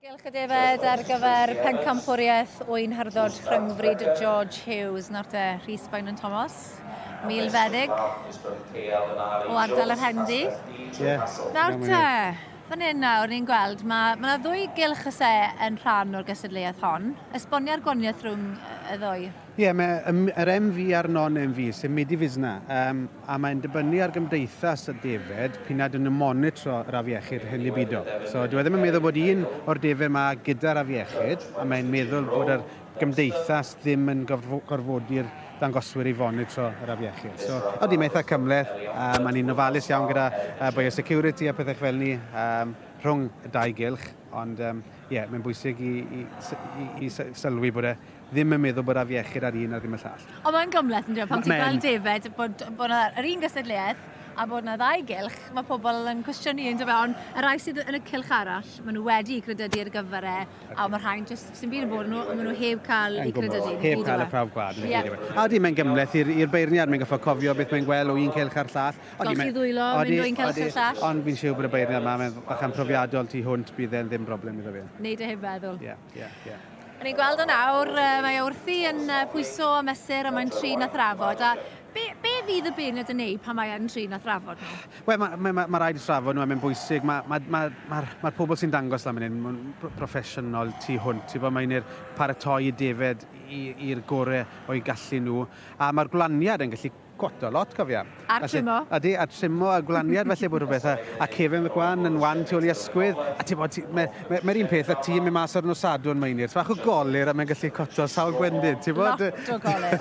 Diolch y Defaid ar gyfer pencampwriaeth wy'n harddod rhyngfryd George Hughes, Norte Rhys Bainon Thomas, milfeddyg o ardal yr Hendi. Yeah. Nawr te, fan hyn nawr ni'n gweld, mae yna ma ddwy gylch y se yn rhan o'r gystadleuaeth hon. Esbonia'r gwaniaeth rhwng y ddwy. Ie, mae yr MV a'r non-MV, sy'n mynd i fusna, um, a mae'n dibynnu ar gymdeithas y defed pyn nad yn y monitro yr afiechyd hyn i bido. So, dwi e ddim yn meddwl bod un o'r defed yma gyda'r afiechyd, a mae'n meddwl bod yr gymdeithas ddim yn gorfodi'r dangoswyr i fonitro yr afiechyd. So, oeddi, mae eitha cymleth, a mae'n un ofalus iawn gyda uh, biosecurity a pethau fel ni um, rhwng y dau gylch, ond ie, um, yeah, mae'n bwysig i, i, i, i sylwi bod e ddim yn meddwl bod afiechyd ar un a ddim y llall. Ond mae'n gymhleth yn dweud, pan ti'n gweld defaid, bod, bod yna yr un gysedliaeth a bod yna ddau gylch, mae pobl yn cwestiynu yn dweud, ond y rai sydd yn y cylch arall, maen nhw wedi credydu ar gyfer e, a mae rhain jyst sy'n byd yn bod nhw, ond maen nhw heb cael eu credydu. Heb cael y prawf gwad. Yeah. A di, mae'n gymhleth i'r beirniad, mae'n goffa cofio beth mae'n gweld o un cylch ar llall. Golchi ddwylo, mynd o un cylch ar llall. Ond fi'n siw bod y beirniad yma, mae'n bachan profiadol tu hwnt, bydd e'n ddim broblem iddo fe. Neud e heb feddwl. Yeah. Yeah, yeah. A ni'n gweld o nawr, mae o wrthi yn pwyso a mesur a mae'n trin a thrafod. A be, be fydd y beunod yn neud pan mae'n trin a thrafod nhw? Wel, mae ma, ma, ma rhaid thrafod nhw, mae'n bwysig. Mae'r ma, ma, ma, ma pobl sy'n dangos lan fan hyn, proffesiynol tu hwnt. Ti'n bod, mae'n i'r paratoi i defed i'r gorau o'i gallu nhw. A mae'r gwlaniad yn gallu Cwota lot cofiaf. A'r Felly, trimo. Ydy, a trimo a gwlaniad felly bod rhywbeth a, a Kevin McGwan yn wan tu ôl i ysgwydd a ti'n bod mae'r me, me, un peth y tîm yn mas o'r nosadw yn Mainir. Bach o golir a mae'n gallu coto sawl gwendid, ti'n bod? Lot o golir.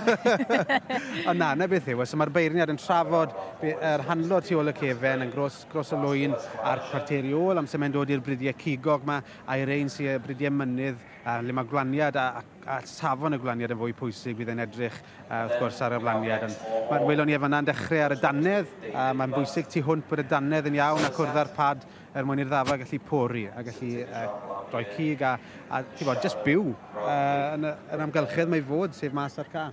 Ond na, na beth yw, so mae'r beirniad yn trafod yr handlo tu ôl y cefen yn gros, gros y lwyn a'r cwarteri ôl amser mae'n dod i'r bridiau cigog mae a'r ein sy'n bridiau mynydd a le mae gwlaniad a, a at safon y gwlaniad yn fwy pwysig fydd e'n edrych uh, wrth gwrs ar y wlaniad. Mae'r welon ni efo yna'n dechrau ar y dannedd, uh, mae'n bwysig tu hwnt bod y dannedd yn iawn ac wrdd â'r pad er mwyn i'r ddafa gallu pori a gallu uh, rhoi cig a, a bod, just byw uh, yn, yr amgylchedd mae fod, sef mas ar ca.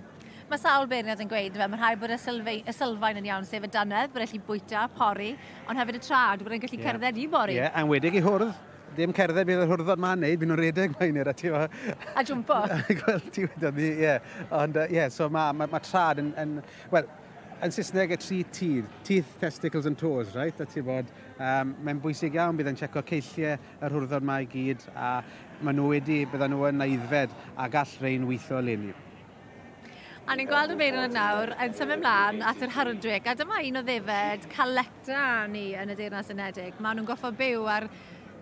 Mae sawl beirniad yn gweud, fe, mae rhai bod y, sylfei, y sylfaen yn iawn, sef y dannedd, bod e'n gallu bwyta, pori, ond hefyd y trad, bod e'n gallu yeah. cerdded i bori. Ie, yeah, anwedig i hwrdd. Dim cerdded, bydd yr hwrdod ma'n neud, bydd nhw'n redeg mae hynny'r ati yma. A jwmpo. Wel, ti wedi ni, ie. Ond, ie, so mae ma, ma trad yn, yn wel, yn Saesneg y tri tydd, teeth, testicles and toes, right? A ti bod, um, mae'n bwysig iawn, bydd yn checo ceilliau yr hwrdod mae i gyd, a maen nhw wedi, byddan nhw yn aeddfed, a gall rhain weithio leni. A ni'n gweld y Beirniad nawr yn symud mlaen at yr Hardwick, a dyma un o ddefed calecta ni yn y Deyrnas Unedig. Maen nhw'n goffa byw ar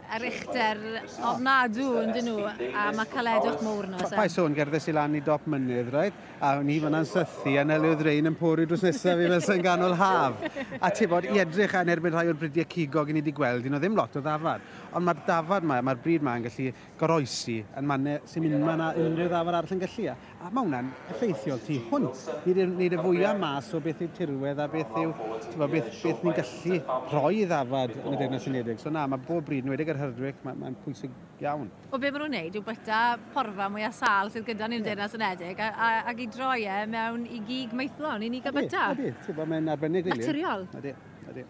ar uchder ofnadw yn dyn nhw, a mae caledwch mowr nhw. Pa sôn gerddais i lan i dop mynydd, right? A o'n i fyna'n sythu, a nelyw ddrein yn pori drws nesaf i fel sy'n ganol haf. A ti bod, i edrych yn erbyn rhai o'r bridiau cigog i ni wedi gweld, un o ddim lot o ddafad. Ond mae'r dafad mae, mae'r bryd mae'n gallu goroesi yn mannau sy'n mynd ma na unrhyw ddafod arall yn gallu. A mae hwnna'n effeithiol tu hwnt. Nid yw'r nid y fwyaf mas o beth yw tirwedd a beth yw beth, beth ni'n gallu rhoi ddafod yn y Deyrnas Unedig. So na, mae bob bryd, yn wedig yr Herdwick, mae'n mae pwysig iawn. Wel, be maen nhw'n neud yw byta porfa mwyaf sal sydd gyda ni'n yeah. Deyrnas Unedig a, a, ac i droi e mewn i gig maethlon i ni gael byta. Ydy, ydy. Mae'n arbennig, rili. Naturiol. Ydy, ydy.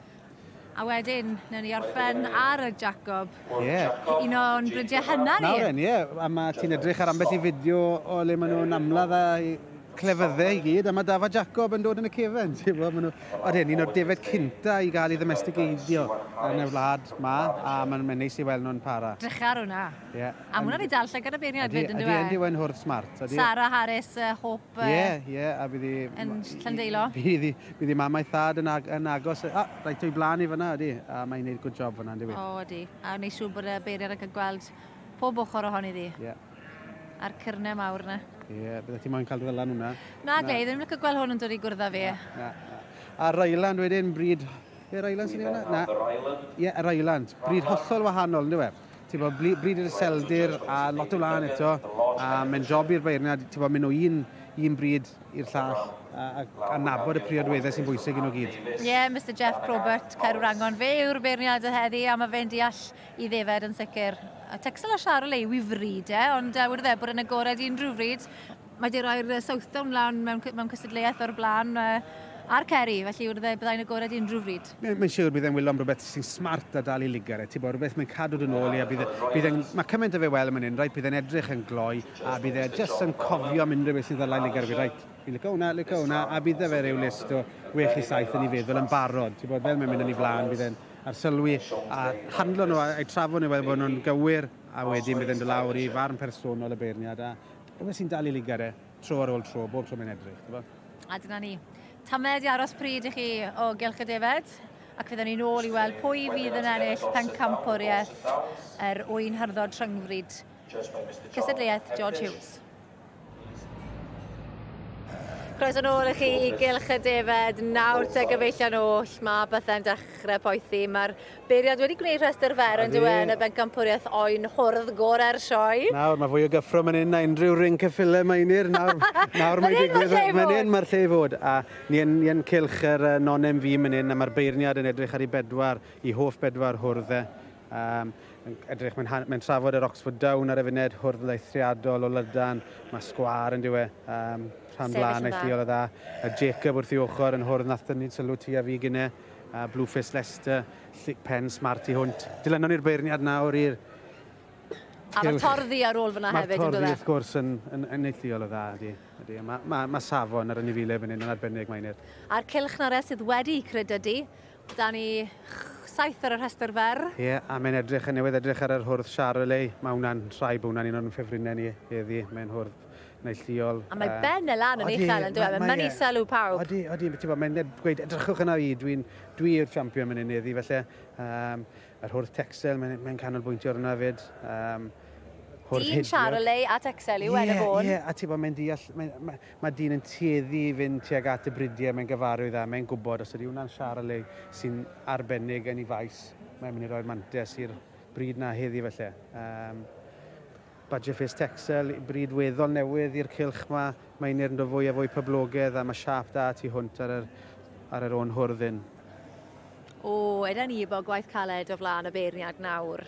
A wedyn, newn ni orffen ar y Jacob. Ie. Un o'n brydiau hynna ni. Nawr yn, ie. A mae ti'n edrych ar ambell i fideo o le maen nhw'n amlad a clefyddau i gyd, a mae Dafa Jacob yn dod yn y cefen. Ti'n gwybod, maen nhw... Oedd hyn, un o'r defed cynta i gael ei ddomestigeidio yn y wlad ma, a mae'n neis i weld nhw'n para. Drycha ar hwnna. Yeah. A mwyn fi dal llygad y beirniaid fyd yn dweud. Ydy, ydy we'n hwrdd smart. Sarah Harris, uh, Hope... Ie, yeah, ie, yeah, a bydd i... Yn Llandeilo. Bydd i, bydd i mamau thad yn, ag, yn agos. Ah, rhaid o'i blaen i fyna, ydy. A mae'n gwneud good job fyna, ydy fi. O, oh, ydy. A wneud siŵr bod y beiriad yn cael gweld pob ochr ohoni ddi. Ie. Yeah. A'r cyrnau mawr yna. Ie, yeah, bydde ti moyn cael dy ddylan hwnna. Na, na. ddim yn cael gweld hwn yn dod i gwrdd â fi. Na, na, na. A Ryland wedyn, bryd... Yr Ryland sy'n ei fyna? Na. Yr Ryland? Ie, yr Ryland. Bryd hollol wahanol, ynddo fe? Ti'n bod, bryd i'r seldir a lot o wlân eto, a mae'n job i'r beirniad, ti'n bod, mynd o un, un bryd i'r llall, a, a, a nabod y priodweddau sy'n bwysig yn o gyd. Ie, yeah, Mr Jeff Probert, Caerwrangon, fe yw'r beirniad y heddi, a mae fe'n deall i ddefed yn sicr. A Texel a Charolais, wifri, de, ond uh, wrth bod yn agored unrhyw fryd, Mae di roi'r Southdown lan mewn, mewn cystadleuaeth o'r blaen a'r Ceri, felly wrth e byddai'n agored unrhyw bryd. Mae'n siwr bydd e'n wyllo am rhywbeth sy'n smart a dal i ligar e, ti bo, rhywbeth mae'n cadw dy nôl i a bydd e, bydd e'n, mae cymaint o fe wel yn man hyn, reit, bydd e'n edrych yn gloi a bydd e jyst yn cofio am unrhyw beth sy'n ddala i ligar fi, reit, fi'n licio hwnna, licio hwnna, a bydd e fe rhyw list o wech i saith yn ei feddwl yn barod, ti bod, fel mae'n mynd yn ei flaen, bydd e'n arsylwi a handlo nhw a'i trafod nhw fel bod nhw'n gywir a wedyn bydd e'n dod lawr i farn personol y beirniad a Efe sy'n dal i ligar e, tro ar ôl tro, bob tro mae'n edrych, t'bo? A dyna ni. Tamed i aros pryd i chi o gylch y defaid, ac fydden ni'n ôl i weld pwy fydd yn ennill pencampwriaeth yr wy'n harddod rhyngfryd cystadleuaeth George Hughes. Croeso nôl i chi i gylch y defaid. Nawr te gyfeillion oll, mae bethau'n dechrau poethi. Mae'r Beiriad wedi gwneud rhestr fer on'd yw e yn y bencampwriaeth oen hwrdd gore'r sioe. Nawr mae fwy o gyffro man 'yn na unrhyw ring ceffylau Meinir nawr nawr mae'n digwydd man 'yn ma'r lle i fod a ni yn ni yn cylch yr yy non-MV man 'yn a ma'r beirniad yn edrych ar ei bedwar i hoff bedwar hwrdd e yym yn edrych mae'n ha- mae'n trafod yr Oxford Down ar y funed hwrdd eithriadol o lydan ma' sgwâr on'd yw e yym rhan blaen eithriol o dda a Jacob wrth ei ochr yn hwrdd nath tynnu sylw ti a fi gine A Blueface Leicester, llic pen smart i hwnt. Dilynon ni'r beirniad nawr i'r A mae'r torddi ar ôl fyna hefyd, yn dod e? Mae'r torddi, wrth gwrs, yn, yn, yn neithiol o dda, ydy. ydy. Mae, mae, mae safon ar y nifile fan hyn yn arbennig, Maenir. A'r cylch na re sydd wedi credydu. Da ni saith ar y rhestr fer. Ie, yeah, a mae'n edrych yn newydd edrych ar yr hwrdd Charolais. Mae hwnna'n rhai bod hwnna'n un o'n ffefrinau ni heddi. Mae'n hwrdd siop neu lliol. A mae Ben e lan yn uchel yn dweud, mae'n mynd sylw pawb. Odi, odi, mae'n gweud, edrychwch yna i, dwi'n dwi yw'r champion mynd i'n eddi, felly um, yr hwrth texel, mae'n mae canolbwyntio ar yna fyd. Um, dyn Charolei at Excel yw yeah, enw fôn. Ie, a ti bod, mae'n deall, mae, mae, mae dyn yn tueddu i fynd tuag at y bridiau, mae'n gyfarwydd dda, mae'n gwybod os ydy hwnna'n Charolei sy'n arbennig yn ei faes, mae'n mynd i roi'r mantes i'r bryd na heddi felly. Um, Badgerface Texel, bryd weddol newydd i'r cylch 'ma, mae Einir yn dod fwy a fwy poblogedd a mae siâp da tu hwnt ar yr, ar yr ôn hwrdd hyn. O, yda ni bo gwaith caled o flaen y beirniad nawr.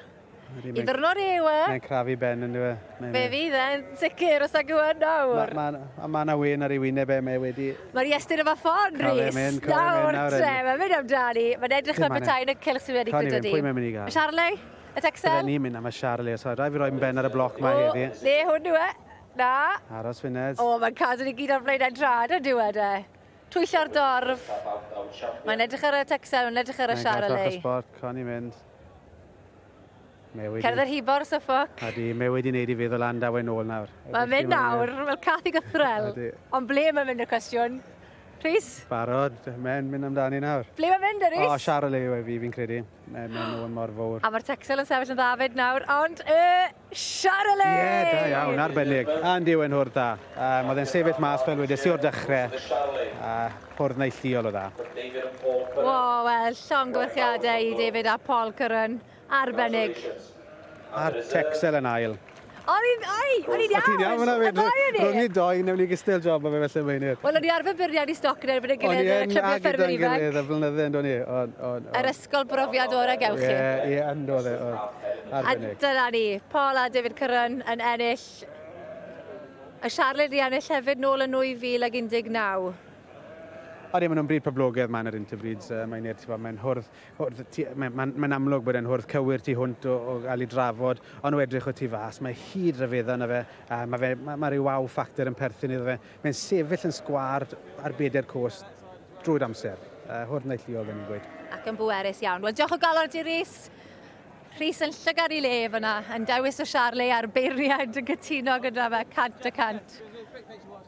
Ydy, mae'n... Iddorno re yw e? Mae'n crafu ben yn dywe. Mae Fe fydd e'n sicr os ag yw e nawr. Ma, ma, a mae yna wen ar ei wyneb e, mae wedi... Mae'r Iestyn yma ffon, Rhys. Nawr, te, mae'n mynd amdani. Mae'n edrych fel petai yn y cylch sydd wedi gyda ni. Pwy mae'n mynd i gael? Charlie? Y texel. Bydden ni'n mynd am y Charlie os oedd. Rhaid fi roi yn ben ar y bloc mae heddi. O, le hwn yw e. Na. Aros Fyned. O, mae'n cadw ni gyd ar flaen ein trad yn diwed e. Twyllio'r dorf. Mae'n edrych ar y texel, mae'n edrych ar y Charlie. Mae'n cadw y sport, con i mynd. Cerdd yr hibo'r syffoc. A di, mae wedi wneud i feddwl am daw e'n ôl nawr. Mae'n mynd nawr, fel cath i gythrel. Ond ble mae'n mynd y cwestiwn? Rhys? Barod, mae'n mynd amdani nawr. Ble mae'n mynd, Rhys? O, Charlie yw e fi, fi'n credu. Mae mae nhw yn mor fawr. A mae'r Texel yn sefyll yn dda fyd nawr, ond y Charolais! Ie, yeah, da iawn, arbennig. A'n dyw e'n hwrdd da. Um, oedd e'n sefyll mas fel wedes i o'r dechrau. A hwrdd neilliol o dda. Wow, wel, llongyfarchiadau i David a Paul Curran. Arbennig. A'r Texel yn ail. O'n i'n oi, o'n i'n iawn. O'n i'n iawn fyna fyd. Rwy'n i'n doi, newn ni gystal job o fe felly Meinir. Wel, o'n i arfer byrniad i stoc yn erbyn y gilydd yn y clybiau ffermwyr ifanc. O'n i'n ag i'n y flynydde, ynddo ni. Yr ysgol brofiad o'r ag ewch chi. Ie, ie, ynddo fe. A dyna ni, Paul a David Curran yn ennill. A Charlotte wedi ennill hefyd nôl yn 2019. Odi, maen nhw'n bryd poblogaidd maen ar Interbreeds, uh, mae'n er, ti'n mae'n hwrdd Hwrdd y tu... Mae'n ma, ma amlwg bod e'n hwrdd cywir tu hwnt o, o gael ei drafod, ond o edrych o tu fas, mae hyd ryfedda yna fe, a mae fe, ma, ma rhyw wow factor yn perthyn iddo fe. Mae'n sefyll yn sgwâr ar bedair cwrs drwy'r amser. Uh, hwrdd neilltuol, fe ni'n gweud. Ac yn bwerus iawn. Wel, diolch o galon ti, Rhys. Rhys yn llygad i le fyna, yn dewis y Charlie a'r beiriau yn gytuno gyda fe, cant y cant.